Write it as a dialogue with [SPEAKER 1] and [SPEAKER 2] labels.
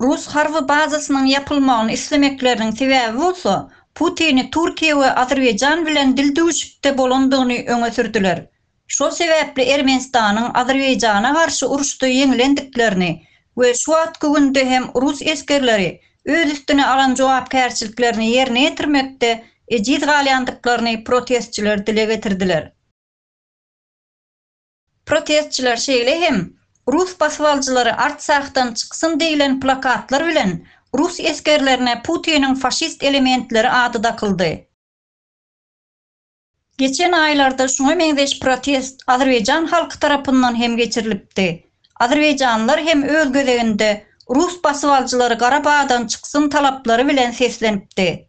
[SPEAKER 1] Rus harby bazasynyň ýapylmagyny islemekleriniň sebäbi bolsa, Putini Türkiýe we Azerbaýjan bilen dildüwüşikde bolandygyny öňe sürdüler. Şol sebäpli Ermenistanyň Azerbaýjana garşy uruşda ýeňilendiklerini we şu wagtky günde hem rus esgerleri öz üstüne alan jogapkärçiliklerini ýerine ýetirmekde ejiz galýandyklaryny protestçiler dile getirdiler. Protestçiler şeýle hem Rus basybalyjylary Artsahdan çyksyn diýlen plakatlar bilen rus esgerlerine Putiniň faşist elementleri ady dakyldy. Geçen aýlarda şuňa meňzeş protest azerbaýjan halky tarapyndan hem geçirilipdi. Azerbaýjanlylar hem öz gezeginde rus basybaljylary Garabagdan çyksyn talaplary bilen seslenipdi.